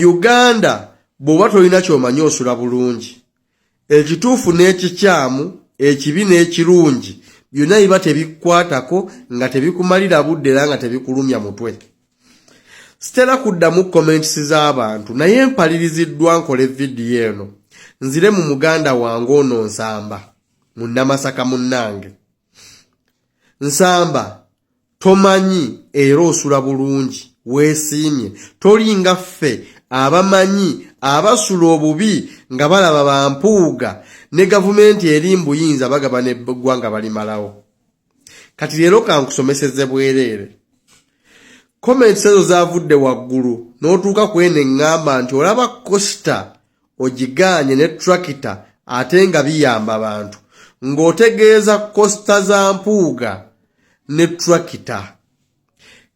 Uganda bw'oba tolina ky'omanyi osula bulungi. Ekituufu n'ekikyamu, ekibi n'ekirungi byonna biba tebikukwatako nga tebikumalira budde era nga tebikulumya mutwe. Sitera kuddamu comments z'abantu naye mpaliriziddwa nkole vidiyo eno nzire mu muganda wange ono Nsamba munnamasaka munnange. Nsamba Tomanyi era osula bulungi weesiimye tolinga ffe abamanyi abasula obubi nga balaba ba Mpuuga ne gavumenti eri mu buyinza bagaba n'eggwanga balimalawo. Kati leero ka nkusomeseze bwereere. Comments ezo zaavudde waggulu n'otuuka ku eno eŋŋamba nti olaba Costa ogigaanye ne tractor ate nga biyamba bantu ng'otegeeza kosita za mpuuga ne tractor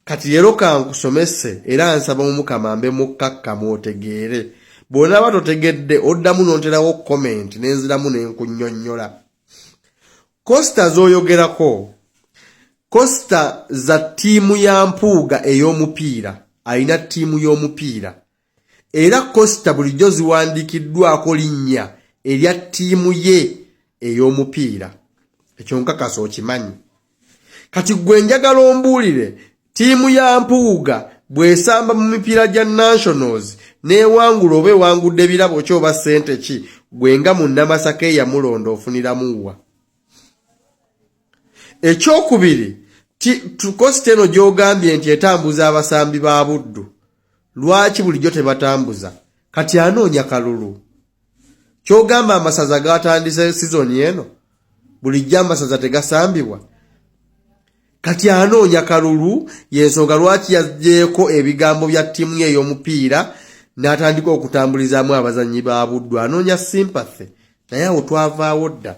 kati leero kankusomese era nsaba omukama mbe mukkakkamu otegeere bw'onaaba totegedde oddamu n'onterawo comment nenziramu ne nkunnyonnyola kosita z'oyogerako kosita za ttiimu ya mpuuga ey'omupiira alina ttiimu y'omupiira era kosita bulijjo ziwandiikiddwako linnya erya ttiimu ye ey'omupiira ekyo nkakasa okimanyi kati gwe njagala ombuulire ttiimu ya mpuuga bw'esamba mu mipiira gya nationals n'ewangula oba ewangudde ebirabo ki oba ssente ki gwe nga munnamasaka eyamulonda ofuniramu wa ekyokubiri tukosi teno gyogambye nti etambuza abasambi ba buddu lwaki bulijjo tebatambuza kati anoonya kalulu kyogamba amasaza gatandise sizoni eno bulijjo amasaza tegasambibwa kati anoonya kalulu yensonga lwaki yajeeko ebigambo bya ttiimu ye ey'omupiira n'atandika okutambulizaamu abazannyi ba buddu anoonya sympathy naye awo twavaawo dda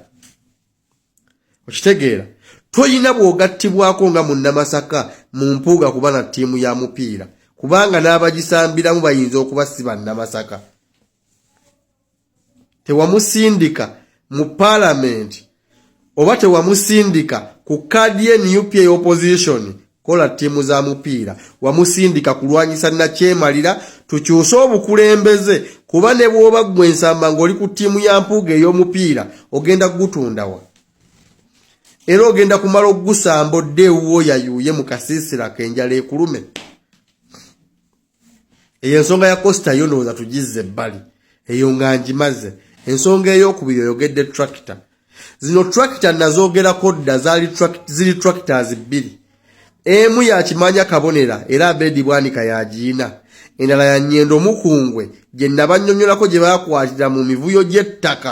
okitegeera toyina bwogattibwako nga munnamasaka mu mpuuga kuba na ttiimu ya mupiira kubanga n'abagisambiramu bayinza okuba si bannamasaka tewamusindika mu paalamenti oba tewamusindika ku kaadi ye nup eya opposition kola ttiimu za mupiira wamusindika kulwanyisa nakyemalira tukyuse obukulembeze kuba ne bw'oba ggwe ensamba ng'oli ku ttiimu ya mpuuga ey'omupiira ogenda kugutundawa era ogenda kumala okugusamba odde ewuwo yayuuye mu kasiisira kenjala ekulume eyo ensonga ya costa yo ndowooza tugizze ebbali eyo nga ngimaze ensonga ey'okubiri oyogedde tractor zino tractor nazogerako dda ziri tractors bbiri emu yakimanya kabonera era abedi bwanika yagiyina endala ya nyendo mukungwe gye nabanyonyolako gye bakwatira mu mivuyo gy'ettaka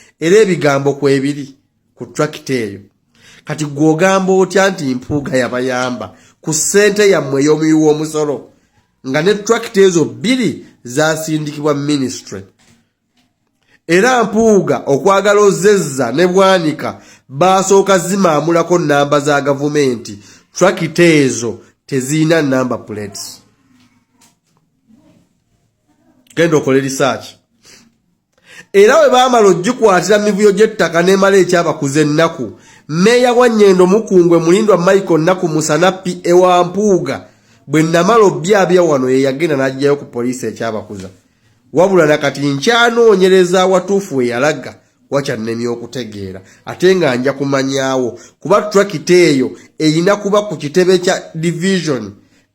era ebigambo kwebiri ku trakita eyo kati gwogamba otya nti mpuuga yabayamba ku ssente yammwe ey'omuyi w'omusolo nga ne trakita ezo bbiri zasindikibwa minisitry era mpuuga okwagala ozezza ne bwanika baasooka zimaamulako nnamba za gavumenti trakita ezo tezirina namba plates genda okole risaaki era bwe baamala ogikwatira mu mivuyo gy'ettaka n'emala ekyabakuza ennaku meeya wa nyendo mukungwe mulindwa michael nnaku musanapi ewa mpuuga bwe namala obyabya wano ye yagenda n'agijayo ku poliisi ekyabakuza wabula na kati nkyanoonyereza awatuufu we yalaga wakyannemye okutegeera ate nga nja kumanyaawo kuba trakita eyo erina kuba ku kitebe kya division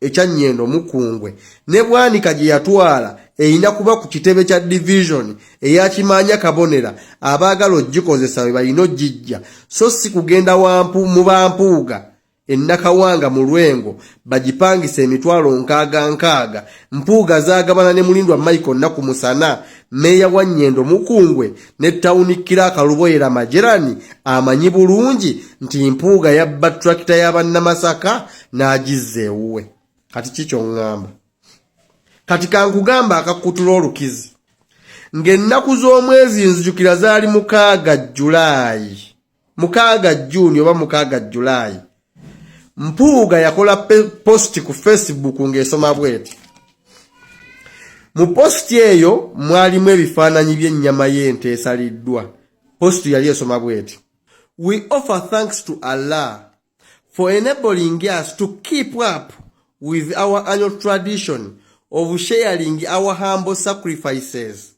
ekya nyendo mukungwe ne bwanika gye yatwala erina kuba ku kitebe kya division eyakimaanya kabonera abaagala ogikozesa we balina ogijja so si kugenda wampu mu bampuuga e Nakawanga mu Lwengo bagipangisa emitwalo nkaaga nkaaga, Mpuuga zaagabana ne Mulindwa Michael Nnaku Musana, Meeya wa Nyendo Mukungwe ne Tawuni Kiraaka Luboyera Majerani amanyi bulungi nti Mpuuga yabba ttulakita ya Bannamasaka n'agizza ewuwe. Kati ki ky'oŋŋamba? Kati kankugamba akakkutula olukizi. Ng'ennaku z'omwezi nzijukira zaali mukaaga Jjulaayi. mukaaga juni oba mukaaga julaayi mpuuga yakola posti ku facebook ng'esoma bweti mu posti eyo mwalimu ebifaananyi by'ennyama y'ente esaliddwa posti yali esoma bweti we offer thanks to allah for enabling us to keep up with our annual tradition of sharing our humble sacrifices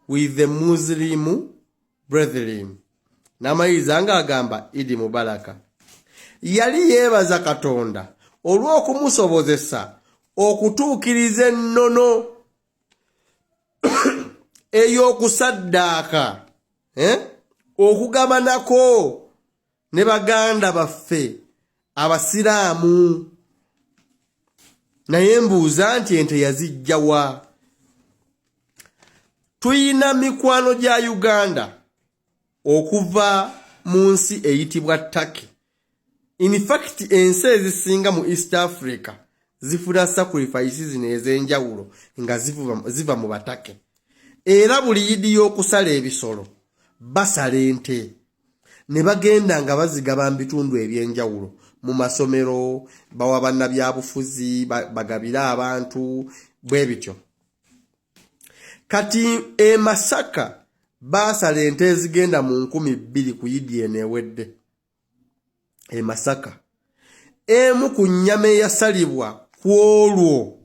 with the muslim brethren n'amayiriza ng'agamba idi mubalaka yali yeebaza katonda olw'okumusobozesa okutuukiriza ennono ey'okusaddaaka eh? okugabanako ne baganda baffe abasiraamu naye mbuuza nti ente yazijja wa tuyina mikwano gya uganda okuva mu nsi eyitibwa turkey infacti ensi ezisinga mu east africa zifuna sacrifice zino ez'enjawulo nga ziva mu batake era buli yidi y'okusala ebisolo basala ente ne bagenda nga bazigaba mu bitundu eby'enjawulo mu masomero bawa bannabyabufuzi bagabire abantu bwe bityo kati e masaka baasala ente ezigenda mu nkumi bbiri ku yidi eno ewedde e masaka emu ku nnyama eyasalibwa ku olwo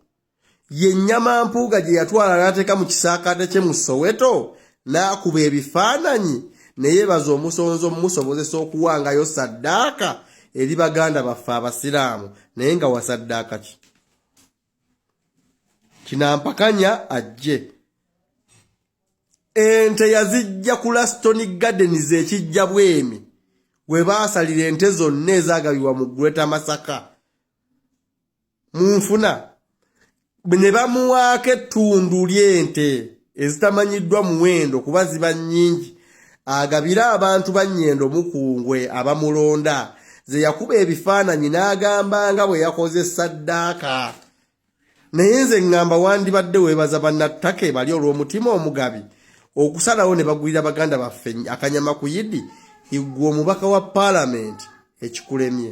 ye nnyama mpuuga gye yatwala n'ateeka mu kisaakaate kye mu soweto n'akuba ebifaananyi ne yeebaza omusonzi omumusobozesa okuwangayo saddaaka eri baganda baffe abasiraamu naye nga wasaddaaka ki kinampakanya ajje ente yazijja ku laston gardens ekijja bwemi we baasalira ente zonna ezaagabibwa mu greater masaka mu nfuna ne bamuwaako ettundu ly'ente ezitamanyiddwa muwendo kuba ziba nnyingi agabira abantu ba nnyendo mukungwe abamulonda ze yakuba ebifaananyi n'agamba nga bwe yakoze saddaaka naye nze ŋŋamba wandibadde weebaza bannattaka ebali olw'omutima omugabi okusalawo ne bagulira baganda baffe akanyama ku yidi iggwe omubaka wa paalamenti ekikulemye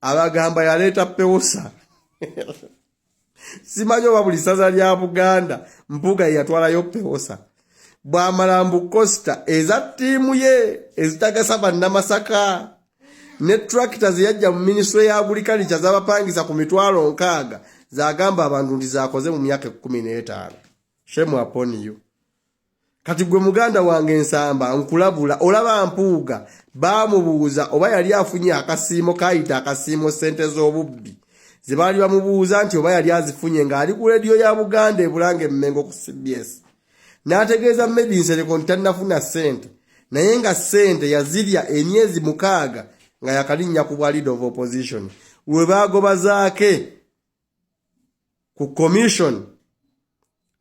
abagamba yaleeta pewosa simanyi oba buli ssaza lya buganda mpuga yeyatwalayo pewosa bwamala mbu costa eza ttiimu ye ezitagasa bannamasaka ne tracta zeyajja mu minisitule ya agurikalikya zabapangisa ku mitwalo nkaaga zagamba abantu nti zakoze mu myaka ekkumi n'etaano shemu apon you kati gwe muganda wange nsamba nkulabula olaba mpuuga baamubuuza oba yali afunye akasiimo kaayita akasiimo ssente z'obubbi ze baali bamubuuza nti oba yali azifunye ng'ali ku leediyo ya buganda ebulanga emmengo ku cbs n'ategeeza medi nsereko nti tannafuna ssente naye nga ssente yazirya emyezi mukaaga nga yakalinnya ku bwa leader of opposition we baagobazaake ku commission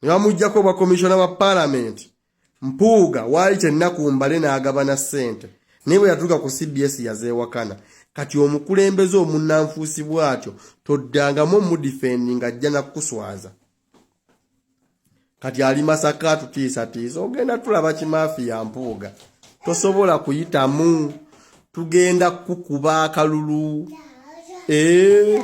ne bamuggyako obwa komishona wa palamenti mpuuga waali kyennaku mbale n'agabana ssente naye bwe yatuuka ku cbs yazeewakana kati omukulembeze omunnanfuusi bw'atyo toddangamu omudifendi ng'ajja nakukuswaza kati ali masaka atutiisatiisa ogenda tulaba kimaafi ya mpuuga tosobola kuyitamu tugenda kukuba akalulu ee eh.